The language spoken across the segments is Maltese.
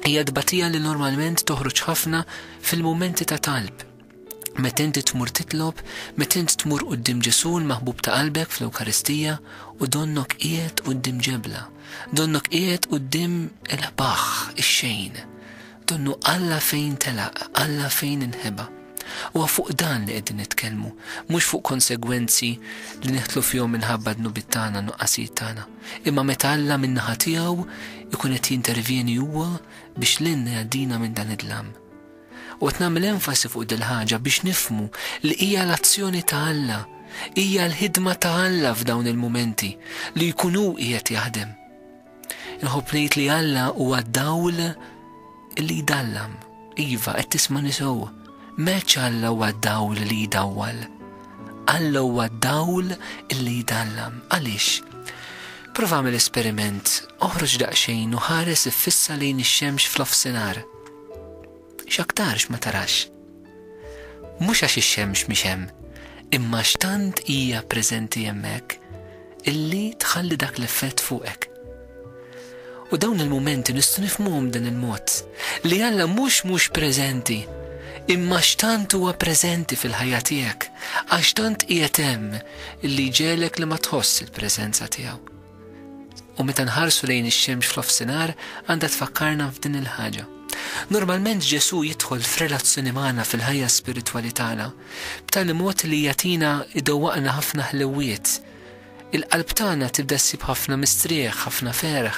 Hija tbatija li normalment toħroġ ħafna fil-mumenti ta' talb. Meta inti tmur titlob, meta int tmur qudiem Ġesu l-maħbub ta' qalbek fl-Ewkaristija u donnok qiegħed qudiem ġebla, donnok qiegħed qudiem il-ħbaħ, ix-xejn. Donnu Alla fejn telaq, Alla fejn inħeba. U fuq dan li qegħdin nitkellmu, mhux fuq konsegwenzi li neħtlu fihom minħabba dnubit tagħna nuqqasijiet tagħna. Imma meta Alla min-naħa tiegħu jkun qed jintervjeni huwa biex lilna jgħaddina minn dan id-dlam. U qed nagħmel enfasi fuq dil-ħaġa biex nifhmu li hija l-azzjoni ta' Alla, hija l-ħidma ta' Alla f'dawn il-mumenti li jkun hu qiegħed jaħdem. Inħobb ngħid li Alla huwa d-dawl, Li jdallam, iva, qed tismani sew. M'għedx Alla huwa d-dawl li jdawwal. Alla huwa d-dawl li jdallam. Għaliex? Prova għamel esperiment, oħroġ daqsxejn u ħares iffissa lejn ix-xemx f'nofsinhar. X'aktarx ma tarax. Mhux għax ix-xemx mhix hemm, imma għax tant hija preżenti hemmhekk illi tħalli dak l-effett fuqek. U dawn il-mumenti nistgħu nifhmuhom b'dan il-mod, li Alla mhux mhux preżenti, imma x'tant huwa preżenti fil-ħajja tiegħek, għax tant qiegħed hemm li jġegħlek li ma tħoss il-preżenza tiegħu. U meta nħarsu lejn ix-xemx fl-ofsinar għandha tfakkarna f'din il-ħaġa. Normalment Ġesù jidħol f'relazzjoni magħna fil-ħajja spiritwali tagħna b'tali mod li jagħtina idowwaqna ħafna ħlewwiet. Il-qalb tagħna tibda ssib ħafna mistrieħ, ħafna ferħ,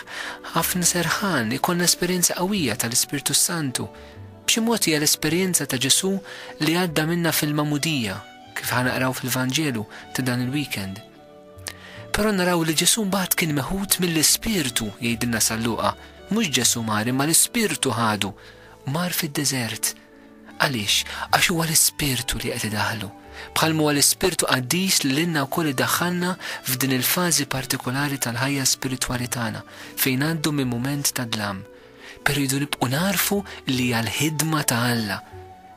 ħafna serħan, ikollna esperjenza qawwija tal-Ispirtu Santu. B'xi mod hija l-esperjenza ta' Ġesù li għadda minna fil-Magħmudija, kif ħanaqraw fil-Vanġelu ta' dan il-weekend. Però naraw li Ġesù mbagħad kien meħud mill-Ispirtu, jgħidilna San Luqa, mhux Ġesù mar imma l-Ispirtu ħadu, mar fid-deżert. Għaliex? Għax huwa l-Ispirtu li qed idaħħlu. Bħal huwa l-Ispirtu Qaddis li lilna wkoll idaħħalna f'din il-fażi partikolari tal-ħajja spiritwali tagħna, fejn ngħaddu minn mument ta' dlam, Però rridu nibqgħu nagħrfu li hija l-ħidma ta' Alla.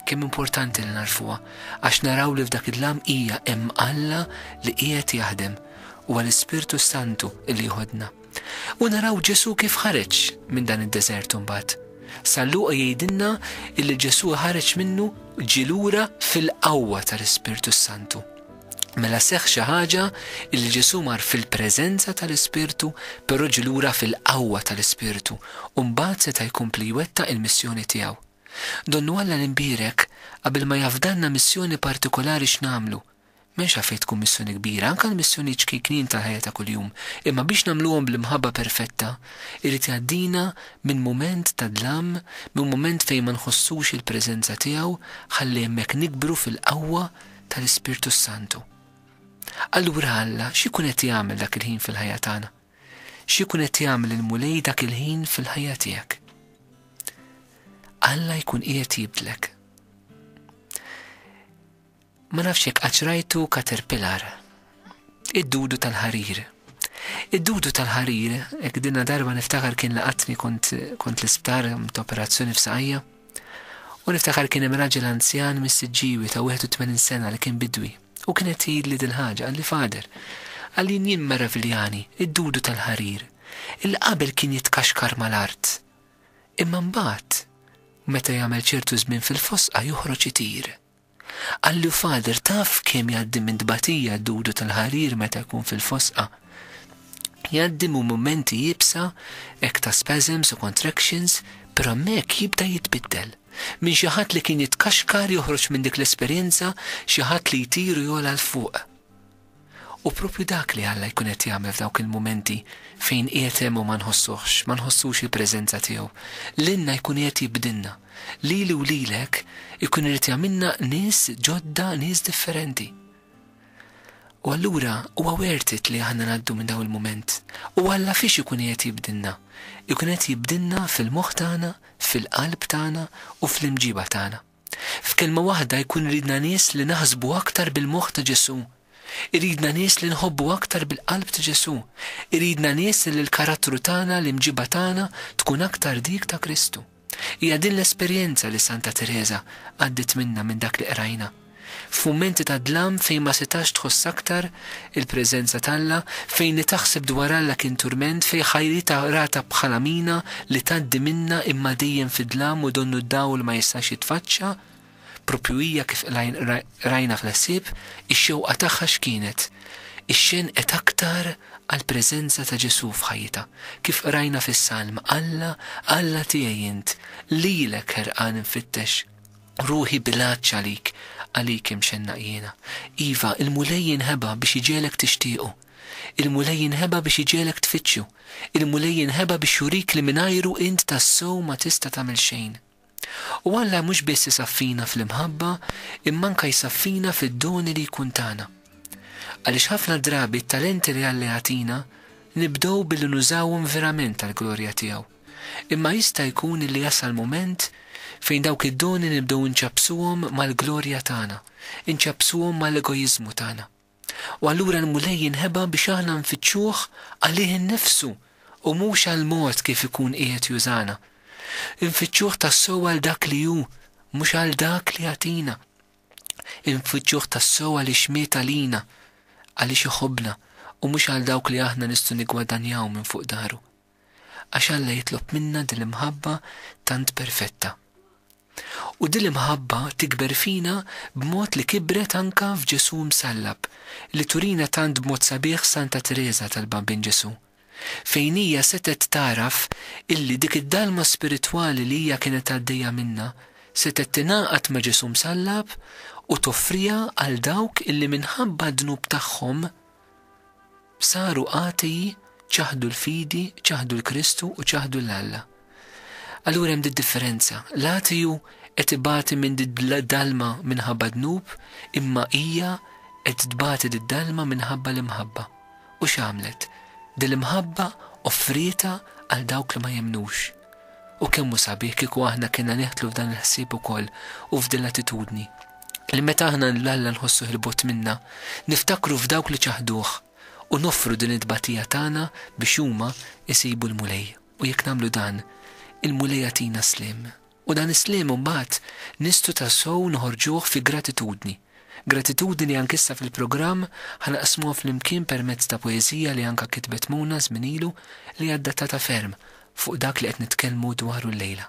Kemm importanti li nagħrfuha, għax naraw li f'dak id-dlam hija hemm Alla li qiegħed jaħdem, huwa l-Ispirtu s-Santu li jieħodna. U naraw Ġesù kif ħareġ minn dan id-deżert imbagħad. San Luqa jgħidilna li Ġesù ħareġ minnu ġie lura fil-qawwa tal-Ispirtu s-Santu. Mela seħħ xi ħaġa li Ġesù mar fil-preżenza tal-Ispirtu, però ġie lura fil-qawwa tal-Ispirtu u mbagħad seta' jkompli jwettaq il-missjoni tiegħu. Donnu Alla l-Imbierek qabel ma jafdalna missjoni partikolari x'nagħmlu, m'hemmx għalfejn tkun missjoni kbira, anke l-missjonijiet ċkejknin tal-ħajja ta' kuljum, imma biex nagħmluhom bl-imħabba perfetta, irid jgħaddina minn mument ta' dlam, minn mument fejn ma nħossux il-preżenza tiegħu, ħalli hemmhekk nikbru fil-qawwa tal-Ispirtu s-Santu. Allura Alla x'ikun qed jagħmel dak il-ħin fil-ħajja tagħna? X'ikun qed jagħmel il-Mulej dak il-ħin fil-ħajja tiegħek? Alla jkun qiegħed jibdlek. Ma nafx jekk qatt rajtu katerpilar. Id-dudu tal-ħarir. Id-dudu tal-ħarir, ek dinna darba niftakar kien laqatni kont, kont l-isptar, operazzjoni f'saqajja, U niftakar kien hemm raġel anzjan mis-Siġġiewi ta' 81 sena li kien bidwi, u kien qed jgħidli dil-ħaġa, qalli, Father, għalin jien meraviljani, id-dudu tal-ħarir, illi qabel kien jitkaxkar mal-art, imma mbagħad, meta jagħmel ċertu żmien fil-fosqa joħroġ itir. Qallu Father taf kemm jgħaddi minn tbatija d-dudu tal-ħarir meta jkun fil-fosqa? Jgħaddi minn mumenti iebsa hekk ta' spasms u contractions, però hemmhekk jibda jitbiddel. Minn xi ħadd li kien jitkaxkar joħroġ minn dik l-esperjenza xi ħadd li jtir u jogħla 'l fuq. Hu proprju dak li Alla jkun qed jagħmel f'dawk il-mumenti fejn qiegħed hemm u ma nħossuhx, ma nħossux il-preżenza tiegħu. Lilna jkun qiegħed jibdilna. Lili u lilek ikun irid jagħmilna nies ġodda, nies differenti. U allura huwa worth it li aħna ngħaddu minn dawn il-mument. U Alla fiex ikun qiegħed jibdilna? Ikun qed jibdilna fil-moħħ tagħna, fil-qalb tagħna u fl-imġiba tagħna. F'kelma waħda jkun iridna nies li naħsbu aktar bil-moħħ ta' Ġesù. Iridna nies li nħobbu aktar bil-qalb ta' Ġesù. Iridna nies li l-karattru tagħna, l-imġiba tagħna tkun aktar dik ta' Kristu. Hija din l-esperjenza li Santa Tereża għaddiet minnha minn dak li qrajna. F'mumenti ta' dlam fejn ma setax tħoss aktar, Il-preżenza t'Alla, fejn li taħseb dwar Alla kien turment, fejn ħajrita rata bħala mina li tgħaddi minnha imma dejjem fid-dlam u donnu d-dawl ma jistax jitfaċċa, proprju hija kif qrajna fl-ħsieb, ix-xewqa tagħha x'kienet? Ixxenqet aktar għall-preżenza ta' Ġesù f'ħajjitha, kif qrajna fis-Salm, Alla, Alla tiegħi int, lilek ħerqan infittex. Ruħi b'ilgħaġġ għalik, għalik imxennaq jiena. Iva, il-Mulej jinħeba biex iġegħlek tixtiequ. Il-Mulej jinħeba biex iġegħlek tfittxu. Il-Mulej jinħeba biex jurik li mingħajru int tassew ma tista' tagħmel xejn. U Alla mhux biss isaffina fl-imħabba, imma anke jsaffina fid-doni li jkun tana. Għaliex ħafna drabi t-talenti li Alla jagħtina nibdew billi nużawhom verament għall-glorja tiegħu. Imma jista' jkun li jasal mument fejn dawk id-doni nibdew inċappsuhom mal-glorja tagħna, inċappsuhom mal-egojiżmu tagħna. U allura l-Mulej jinħeba biex aħna nfittxuh għalih innifsu u mhux għall-mod kif ikun qiegħed jużana. Infittxuh tassew għal dak li hu, mhux għal dak li jagħtina. Infittxuh tassew għaliex miet għalina, għaliex iħobbna, u mhux għal dawk li aħna nistgħu niggwadanjaw minn fuq dahru. għax Alla jitlob minna din l-imħabba tant perfetta. U din l-imħabba tikber fina b'mod li kibret anke f'Ġesù msallab, li turina tant b'mod sabiħ Santa Tereża tal-Bambin Ġesù, fejn hija setgħet tagħraf illi dik id-dalma spiritwali li hija kienet għaddejja minnha setgħet tingħaqad ma' Ġesù msallab u toffriha għal dawk illi minħabba d-dnub tagħhom Saru għatiji, ċaħdu l-fidi, ċaħdu l-Kristu u ċaħdu l-Alla. Allura hemm differenza. L-għatiju qed ibati minn dalma minħabba dnub, imma hija qed tbati d-dalma minħabba l-imħabba. U x'għamlet? Dil-imħabba offrieta għal dawk li ma jemnux. U kemmu sabiħ kieku aħna kena neħtlu f'dan il-ħsieb ukoll u f'dil attitudni. li meta aħna lil Alla nħossuh 'il bogħod minna, niftakru f'dawk li ċaħduh u noffru din it-tbatija tagħna biex huma jsibu l-Mulej. U jekk nagħmlu dan, il-Mulej jagħtina s-sliem. U dan is-sliem imbagħad nistgħu tassew noħorġuh fi gratitudni. Gratitudni li anke issa fil-programm ħa naqsmuha flimkien permezz ta' poeżija li anke kitbet Mona żmien ilu li hi adattata ferm fuq dak li qed nitkellmu dwaru llejla.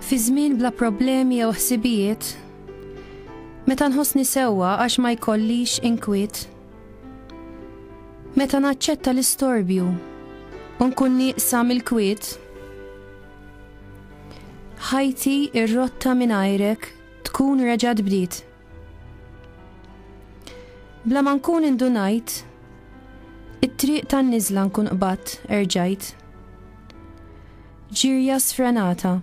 Fi żmien bla problemi jew ħsibijiet, meta nħossni sewwa għax ma jkollix inkwiet, meta naċċetta l-istorbju u nkun nieqsa mill-kwiet, ħajti ir-rotta mingħajrek tkun reġgħet bdiet. Bla ma nkun indunajt, it-triq tan-niżla nkun qbad erġajt. Ġirja sfrenata,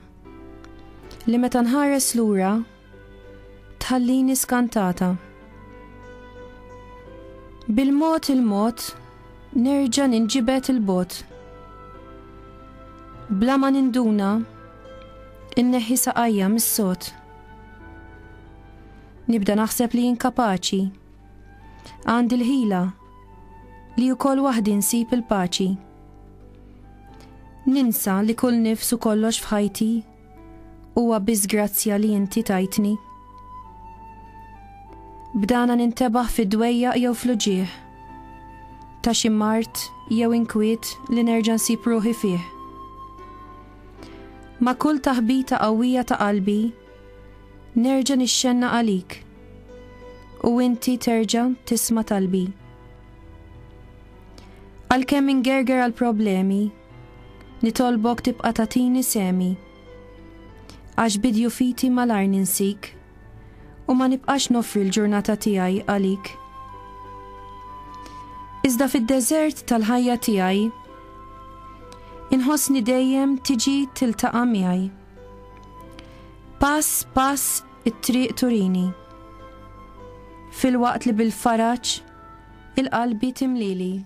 li meta nħares lura tħallini skantata. Bil-mod il-mod nerġa' ninġibed il-bogħod. Bla ma ninduna, inneħħi saqajja mis-sod. Nibda naħseb li inkapaċi. Għandi l-ħila li wkoll waħdi nsib il-paċi. Ninsa li kull nifsu kollox f'ħajti huwa biss grazzja li inti tajtni. Bdana nintebaħ fid-dwejja jew fl-uġieħ. Ta' xi mart jew inkwiet li nerġa' nsib ruħi fih. Ma' kull taħbita qawwija ta' qalbi nerġa' nixxenna għalik u inti terġa' tisma' talbi. Għalkemm ingerger għal problemi, nitolbok tibqa' tatini semi. Għax bidju fiti malajr ninsik u ma nibqax nofri l-ġurnata tiegħi għalik. Iżda fid-deżert tal-ħajja tiegħi inħossni dejjem tiġi tiltaqa' miegħi. Pass pass it-triq turini. Fil-waqt li bil-faraġ Il-qalbi timlili.